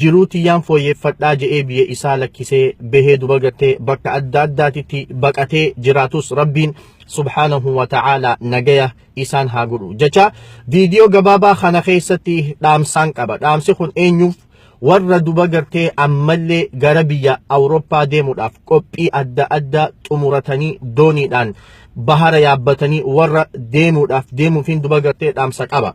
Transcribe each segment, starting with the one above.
Jiruu tiyyaan fooyyeeffadhaa je'ee biyya isaa lakkisee bahee duba gartee bakka adda addaatitti baqatee jiraatus Rabbiin subhaanahu wa ta'aala nagaya isaan haa godhu. Jecha viidiyoo gabaabaa kana keessatti dhaamsaan qaba. Dhaamsi kun eenyuuf warra duba gartee ammallee gara biyya Awurooppaa deemuudhaaf qophii adda addaa xumuratanii dooniidhaan bahara yaabbatanii warra deemuudhaaf deemuufiin duba gartee dhaamsa qaba.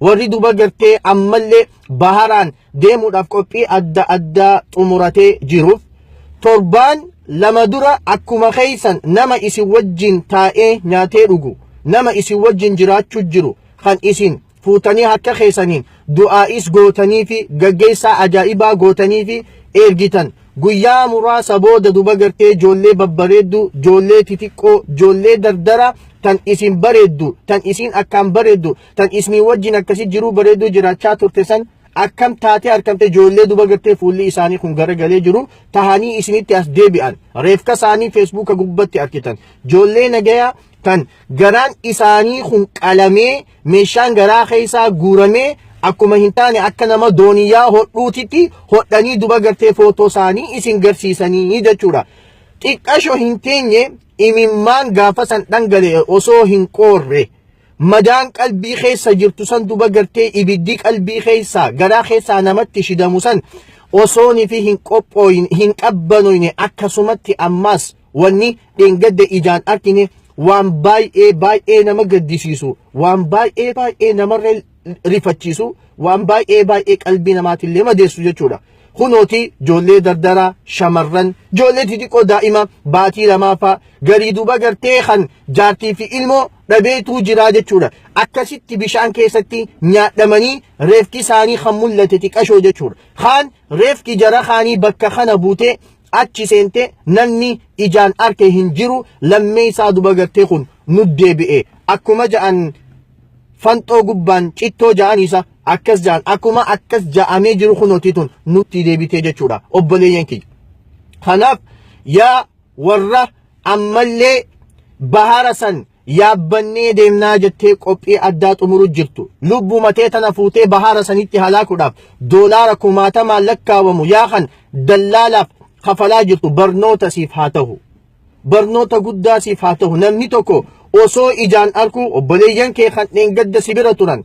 Warri duba gartee ammallee baharaan deemuudhaaf qophii adda addaa xumuratee jiruuf torbaan lama dura akkuma keessan nama isin wajjin taa'ee nyaatee dhugu nama isin wajjin jiraachuu jiru kan isin fuutanii harka keessaniin du'aa'is gootaniifi gaggeessaa ajaa'ibaa gootaniifi ergitan guyyaa muraasa booda duba gartee joollee babbareedduu joollee titiqqoo joollee dardara tan isin bareeddu tan isin akkaan bareeddu tan isnii wajjin akkasi jiruu bareeduu jiraachaa turte san akkam taatee arkamte ijoollee duba gartee fuulli isaanii kun garagalee jiru tahanii isinitti as deebi'an reefka isaanii feesbuuka gubbatti arkitan ijoollee nagayaa tan garaan isaanii kun qalamee meeshaan garaa keessaa guuramee akkuma hin taane akka nama dooniyyaa hodhuutitti hodhanii duba gartee footoo isaanii isin garsiisanii jechuudha. Xiqqasho hin teenye imimmaan gaafa san dhangale osoo hin qoorre. Madaan qalbii keessa jirtu san duba gartee ibiddi qalbii keessaa garaa keessaa namatti shidamu san osooni fi hin qophooyne hin qabbanoyne akkasumatti ammaas wanni dheengadda ijaan arkine waan baay'ee baay'ee nama gaddisiisu waan baay'ee baay'ee namarra rifachiisu waan baay'ee baay'ee qalbii namaatillee madeessu jechuudha. Kunooti joollee dardaraa shamarran joollee xixiqqoo daa'ima baatii lamaafaa garii duba gartee kan jaartii fi ilmoo dhabeetuu jiraa jechuudha. Akkasitti bishaan keessatti nyaadhamanii reefki isaanii kan mul'ate xiqashoo jechuudha. Kaan reefki jara kaanii bakka kana buutee achi seentee namni ijaan arke hin jiru lammee isaa duba gartee kun nu deebi'e. Akkuma ja'an fanxoo gubbaan cittoo ja'an isa akkas ja'an akkuma akkas ja'amee jiru kunooti tun nutti deebitee jechuudha. Obboleeyyan kiyya. Kanaaf yaa warra ammallee bahara san yaabbannee deemnaa jettee qophii addaa xumuru jirtu lubbuma tee tana fuutee bahara sanitti halaakudhaaf doolaara kumaatamaan lakkaawamu yaa kan dallaalaaf kafalaa jirtu barnoota siif haa tahu barnoota guddaa siif haa tahu namni tokko osoo ijaan arkuu obboleeyyan kee kan dheengadda si bira turan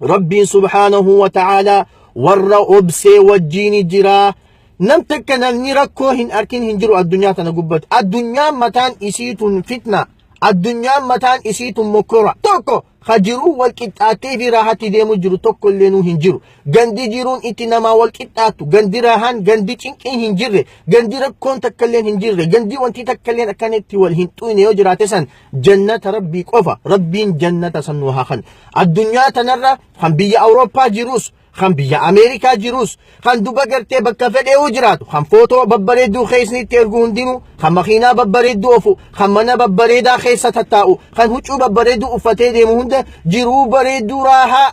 Rabbiin subhaanahu wa ta'aalaa warra obsee wajjiini jiraa. Nam takka namni rakkoo hin arkin hin jiru addunyaa tana gubbatti. Addunyaan mataan isiitun fitna. Addunyaan mataan isiitun mokkora. Tokko ha jiruu wal qixxaattee fi raahatti deemu jiru tokko illee nuu hin jiru. Gandi jiruun itti namaa wal qixxaattu. Gandi raahaan gandi cinqiin hin jirre. Gandi rakkoon takka illee hin jirre. Gandi wanti takka illee akkanatti wal hin xuyne yoo jiraate san Jannata Rabbii qofa. Rabbiin jannata san nu haa kanu. Addunyaa tanarra kan biyya Awurooppaa jirus, kan biyya Ameerikaa jirus, kan duba gartee bakka fedheehu jiraatu, kan footoo babbareedduu keessni itti ergu hundinuu, kan makiinaa babbareedduu ofu, kan mana babbareedaa keessa tattaa'u, kan huccuu babbareedduu uffatee deemu hunda jiruu bareedduu raahaa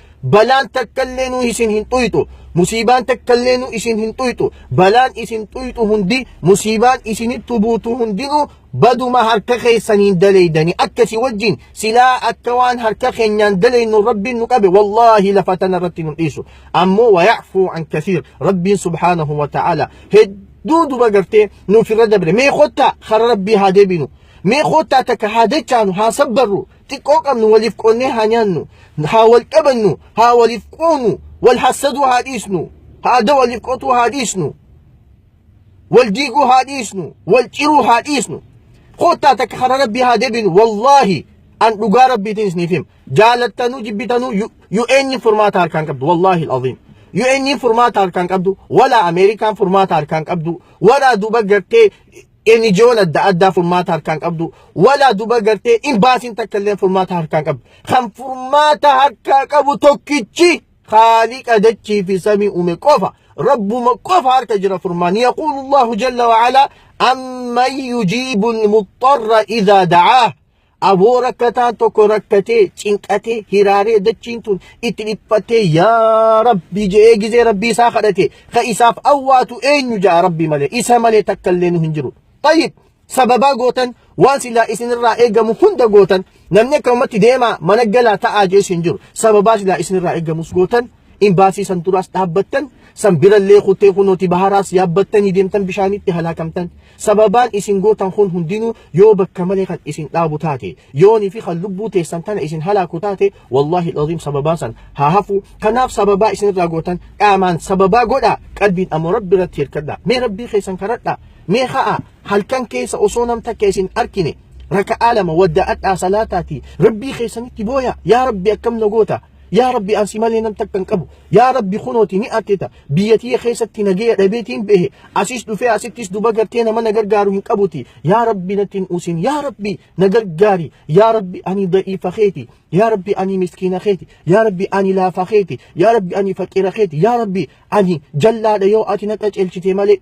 balaan takkalleenu isin hin xuyxu musiibaan takkalleenu isin hin xuyxu balaan isin xuyxu hundi musiibaan isinittu buutu hundinuu baduma harka keessaniin daleeydani akkasi wajjin silaa akka waan harka keenyaan daleeynu rabbiin nu qabe wallaahi lafa tana irratti nu dhiisu ammoo wayacfuu an kasiir rabbiin subhaanahu wa ta'aala hedduu duba gartee nuuf irra dabre mee kottaa kara rabbii haa deebinu mee kottaa takka haa dachaanu haa sabbarru xiqqoo qabnu waliif qoonnee haa nyaannu haa wal qabannu haa waliif qoonu wal hassaduu haa dhiisnu haa adda waliif qotuu haa dhiisnu wal diiguu haa dhiisnu wal ciruu haa dhiisnu koottaa takka kara rabbii haa debinu wallaahi an dhugaa rabbiitiin isiniif him jaalattanuu jibbitanuu yu'eenyiin furmaata harkaan qabdu wallaahi al'aziim yu'eenyiin furmaata harkaan qabdu walaa ameerikaan furmaata harkaan qabdu walaa duba gartee NGOn adda addaa furmaata harkaan qabdu walaa duba gartee imbaasiin takka illee furmaata harkaan qabdu. Kan furmaata harkaa qabu tokkichi khaaliqa dachii fi samii uume qofa. Rabbuma qofa harka jira furmaan. Yaquulu Allahu jalla wa ala amman yujiibu al-muxxarra idhaa da'aa. Aboo rakkataan tokko rakkatee cinqatee hiraaree dachiin tun itti dhiphattee yaa rabbii je'ee gizee rabbii isaa kadhate ka isaaf awwaatu eenyu ja'a rabbii malee isa malee takka illee nu hin jiru. Tayyib sababaa gootan waan silaa isinirraa eegamu hunda gootan namni akka ummatti deemaa mana galaa ta'aa jees hin jiru sababaa silaa isinirraa eegamus gootan imbaasii san duraas dhaabbattan san birallee kuttee kunooti baharaas yaabbattanii deemtan bishaanitti halaakamtan Sababaan isin gootan kun hundinuu yoo bakka malee kan isin dhaabu taate, yoonii fi kan lubbuu teessan tana isin halaaku taate, wallaahi al-aziim sababaan san haa hafu. Kanaaf sababaa isin irraa gootan qaamaan sababaa godhaa, qalbiin ammoo Rabbi irratti hirkadhaa. Mee Rabbii keessan karadhaa. Mee ka'aa halkan keessa osoo nam takka isin arkine raka'aa lama wadda'adhaa salaataatii Rabbii keessanitti booyaa. Yaa Rabbi akkam na goota? Yaa Rabbi ansi malee nan takka hin qabu. Yaa Rabbi kunooti ni argita. Biyya tiyya keessatti nageeya dhabeetiin behe. Asis dhufee asittis duba gartee nama na gargaaru hin qabuti. Yaa Rabbi natti hin usin. Yaa Rabbi na gargaari. Yaa Rabbi ani da'iifa keeti. Yaa Rabbi ani miskiina keeti. Yaa Rabbi ani laafa keeti. Yaa Rabbi ani faqiira keeti. Yaa Rabbi ani jallaadha yoo ati na qajeelchite malee.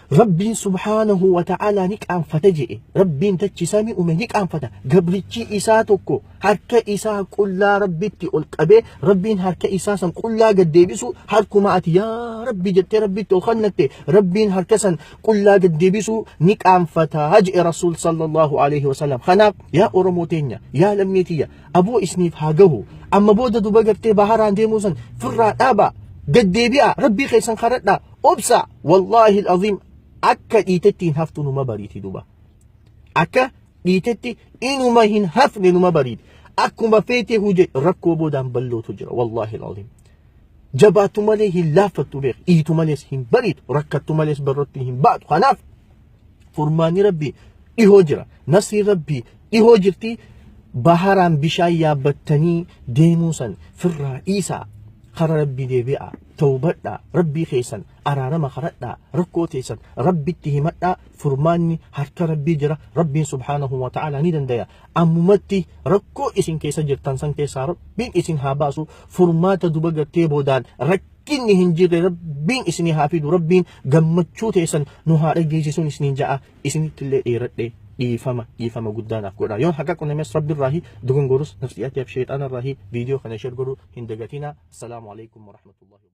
Rabbiin subhaanahu wa ta'aalaa ni qaanfata je'e. Rabbiin dachi sami ume ni qaanfata. Gabrichii isaa tokko harka isaa qullaa Rabbitti ol qabee Rabbiin harka isaa san qullaa gad deebisu harkuma ati yaa Rabbi jettee Rabbitti ol kannatte Rabbiin harka san qullaa gad deebisu ni qaanfata je'e Rasuul sallallahu alaihi wasallam. Kanaaf yaa Oromoo teenya yaa lammii tiyya aboo isniif haa gahu amma booda duba gartee baharaan deemuu san firraa dhaabaa gad deebi'aa Rabbii keessan karadhaa obsa wallaahi alazim akka dhiitetti hin haftu numa bariiti duba akka dhiitetti inuma hin hafne numa bariiti akkuma feetee huje rakkoo boodaan ballootu jira wallaahi alazim jabaatu malee hin laaffattu beek dhiitu malees hin bariitu rakkattu malees barratti hin baatu kanaaf Furmaanni Rabbii dhihoo jira. Nasrii Rabbii dhihoo jirti. Baharaan bishaan yaabbattanii deemuu san firraa dhiisaa. Kara Rabbii deebi'aa. Tawbadhaa. Rabbii keessan araarama karadhaa. Rakkoo teessan Rabbitti himadhaa. Furmaanni harka Rabbii jira. Rabbiin subhaanahu wa ta'ala ni dandaya. Ammumatti rakkoo isin keessa jirtan san keessaa Rabbiin isin haa baasu. Furmaata duba gartee boodaan rakkoo. dinni hin jirre rabbiin isinii haa fidu rabbiin gammachuu teessan nu haa dhageessisuun isiniin ja'a isinitti illee dheeradhe dhiifama dhiifama guddaa naaf godha yoon haqa qunames rabbi irraahi dogongorus nafsiyaatiif sheexaana irraahi viidiyoo kana sheer godhuu hin dagatinaa salaamu alaikum warahmatullahi wabarakatuh